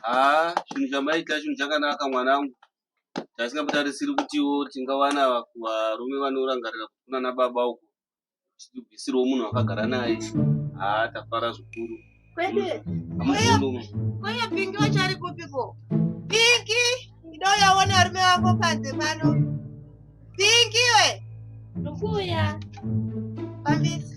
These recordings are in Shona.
haa chinhu chamaita chinhu chakanaka mwanangu taisingambatarisiri kutiwo tingawana varume vanorangarira kufuna nababa uko tichibvisirwo munhu akagara naye haa tafara zvikuru kwede kweye pingi vachari kupiko pingi ndoyaona varume vako panze pano pingi we ndokuuya pambisi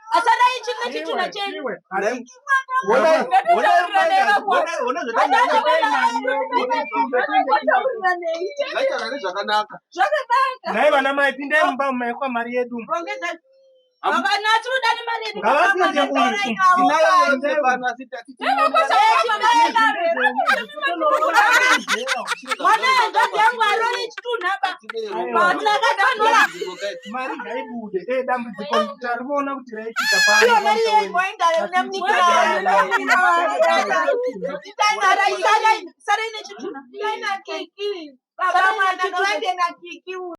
asadai chimwe chitunha chenyu nai vana mai pindai mumba maikwa mari yedu havana tinoda nemari yedu mwana yangazi yangu arore chitunha ba patinakatanora mari ngaibude e dambudziko tarivoona kuti raitika paiyo mari yaigoindare nemnikirasarai nechitunha baba mwana ngavaende nakiki